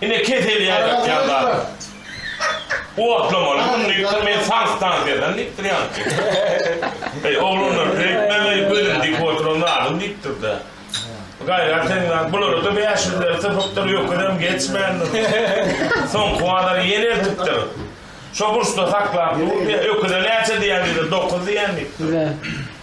Ine kesel ýaýratýan zat. Otlamaly gün diýipdir, men saň stansiýadan diýipdir ýaňky. Eý, oglanlar beýtmäň eý, gözüm diki oturan zadym diýipdir-de. Gaýrat ediň zat, bulara-da bäş ýüz ler sypypdyr, öküzem geçmändir. Soňky bazary ýene eltipdir. Şo burçda saklap dur diýen, öküze näçe diýen diýdi, dokuz diýen diýipdir.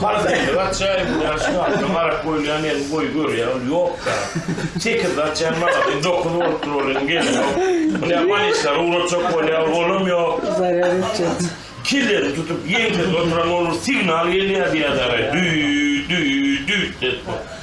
Parhynly atjaýyň bilen şynasyna garap goýulýan elin goýy görýä ol ýokda. Tekizli atjaýyň maňlaýyny dokuz bolupdyr ol elin gelenok. Munä balislary ugratjak bolýa ol olam ýok. Zarýad etjek. Kellesini tutup ýeňsesine oturan ol bir signal gelýä diýýä dagay. Düýt, düýt, düýt, diýip.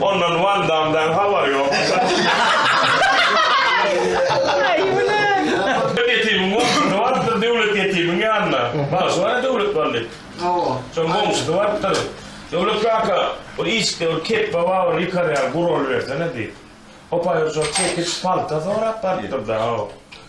Ondan Van Damdan habar yok. Döwlet ýetimiň goňşusy bardyr, döwlet ýetimiň ýanyna. Bagşy bar-a Döwlet Bally. Hawa. Şoň goňşusy bardyr. Döwlet kaka, bir işikde bir kepba bar, ony ýykarýan, guralybersene diýip. Hopaý urşak çekiç, palta sorap bardyr-da, haw.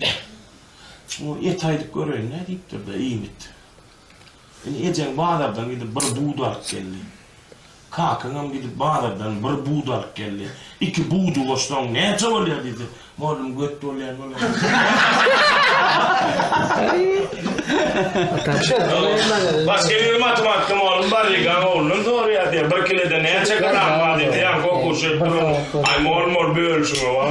Beh, şu et aýdyp göreýin nädipdir-de, iýmit. Indi ejeň bazardan gidip bir bud alyp geldi. Kakaňam gidip bazardan bir bud alyp geldi. Iki budy goşsaň näçe bolýar diýse, mollum göt bolýan bolar. Başga bir matematika mugallym bar Rigaň oglundan sorýar diýýär, bir kilede näçe gram bar diýip ýan gokuş edip duran Aý mol mol bölüşiň owaw.